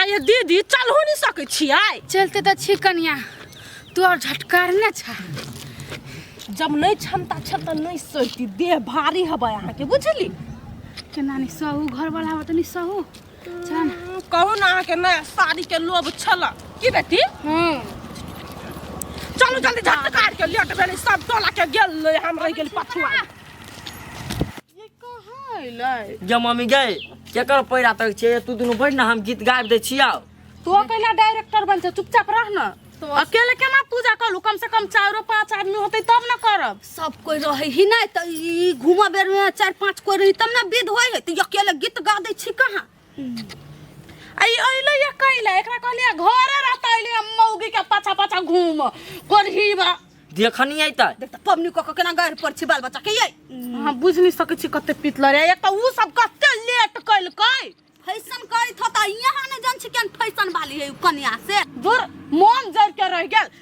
अरे दीदी चलहो नहीं सकै छियै चलते तऽ छी कनिया तोर झटकारने छा जब नहीं क्षमता छ तऽ नहीं सैती देह भारी हबै अहाँके बुझली केना नहीं सहू घर वाला हवा तऽ नहीं सहू चल ना। हम्म, कहू ने अहाँके नया साड़ी के लोभ छल की बेटी हम्म चलू जल्दी झट काट के लेट भेलै सब टोला के गेल हम रहि गेल पछुआ ये कहाँ अइलै जे मम्मी गए केकर पैरा तक छै तू दुनू बैठ ना हम गीत गाबि दै छियौ तू अकेला डायरेक्टर बन जा चुपचाप रह ना तो अकेले केना पूजा करू कम से कम चारो पांच आदमी होतै तब ना करब सब कोई रहे ही नहीं तो ई घूमा बेर में चार पांच कोई रही तब ना विध होई है तो अकेले गीत गा दै छी कहाँ आई अइले या कइले एकरा कहलिए घरे रहता अइले हम मौगी के पाछा पाछा घूम कोरही बा देखनी आई त देख त पबनी को केना गाड़ पर छी बाल बच्चा के ये हम बुझ नहीं सके छी कते पितल रे एक त उ सब कते लेट कइल कै फैशन करी थो त यहाँ न जन छी केन फैशन वाली है उ कन्या से दूर मन जर के रह गेल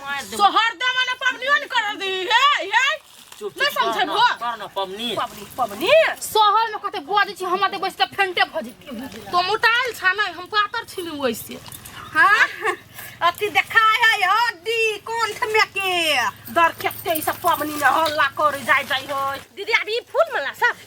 मार दे तो हरदम मने पबनियो ने कर दी हे हे चुप नहीं समझे बो कर ना पमनी पबनी पबनी शहर में कते बजे छी हम ते बैस के फेंटे भ जेती तो मोटाइल छा नहीं हम पातर छिनु वैसे हां अति देखा है हड्डी कौन थमे के दर केते ई सब पबनी न हल्ला कर जाय जाय हो दीदी अब ई फूल मला सब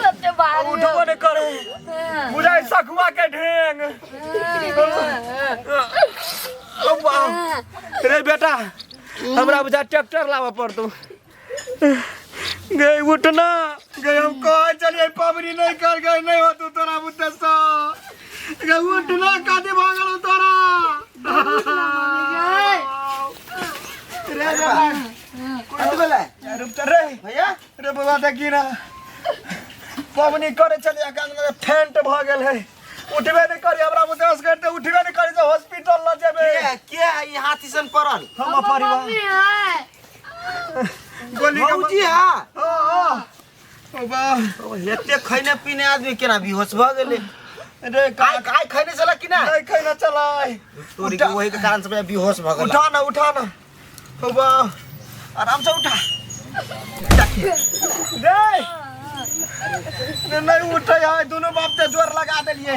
कते बाहर उठबो ने करे बुझाइ सखुआ के ढेंग रे बेटा हमरा बुझा ट्रैक्टर लाबऽ पड़तौ गए उठना गए हम कहे चलिए पबरी नहीं कर गए नहीं हो तू तोरा बुते सा गए उठना कादे भागल हो तोरा रे बाबा कथी भेलै रे उतर रे भैया रे बाबा देखी ना पबनी करे चलिए कान में फेंट भ गेल है उठबे नहीं करी हमरा बुते से करते उठबे नहीं करी तो हॉस्पिटल ल जेबे के के ई हाथी सन पड़ल हम परिवार गोली के भौजी बंदूक- हा हाँ, हाँ। ओ बा ओ, एते खैने पीने आदमी केना बेहोश भ गेले रे आइ का आइ खैने चला कि ना नहीं खाना चला है। तोरी के उठा- वही के कारण से बेहोश भ गेल उठा ना उठा ना ओ बा आराम से उठा रे नहीं उठे है दोनों बाप ते जोर लगा देलिए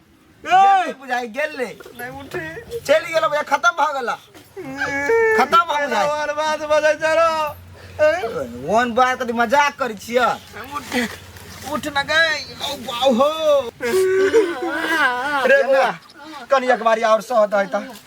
गेल बुझाई गेल ने नहीं उठे चल गेल बुझाई खत्म भ गेला खत्म भ बुझाई और बात बजे चलो वन बार कदी मजाक करी छिया उठे उठ न गई ओ बाऊ हो रे बुआ कनी एक बारी और सह दई त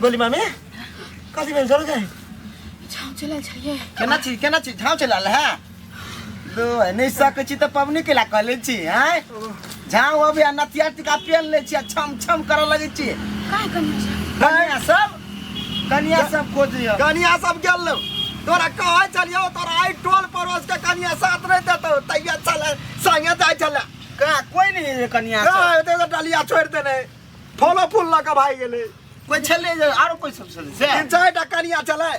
बोली मामी कथी भेल चल जाए छाव चलल छलिए केना छी केना छी झाँव चलल है लो नहि सकै छी तऽ पबनी केला कऽ लै छी आँय झाँव अबै आ नथिया टिका पेन लै छी आ छम छम करऽ लगै छी काय कनी छै कनिया सब कनिया सब खोजैया कनिया सब गेल लो तोरा कहै छलियौ तोरा आइ टोल पड़ोस के कनिया साथ नहि देतौ तैया चल संगे जाइ छलै का कोई नहीं है कनिया सब कहाँ हेतै तऽ डलिया छोड़ि देने फलो फूल लऽ कऽ भागि गेलै कोइ छलै जे आरो कोइ सब छलै से तीन चारि टा कनिया छलै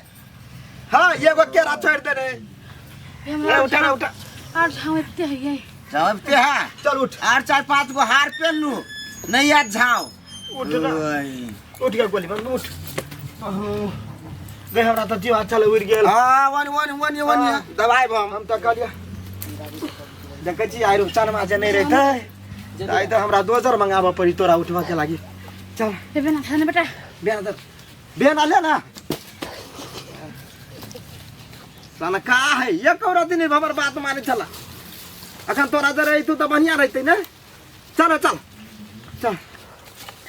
हँ एगो केरा छोड़ि देने ए, हमरा उठा रे, उठा आर झाँव एते हइयै जब ते है चल उठ आर चार पांच गो हार पेन लू नहीं याद झाओ उठ ना ओए। उठ गया गोली बंद उठ अहो, देख हमरा तऽ जीवा चल उड़ि गेल हाँ वन वन वन वन दवाई बम हम तऽ कहलियै देखै छी आइ रुपचान माजे नहि रहितै आइ तऽ हमरा दोजर मंगाबऽ पड़ी तोरा उठबऽ के लागी चल ए बेना खा ने बेटा बेना दर बेना ले ना साला का है ये कौरा दिन हमर बात माने चला अखन तोरा जरे तू तो बढ़िया रहते ने चल चल चल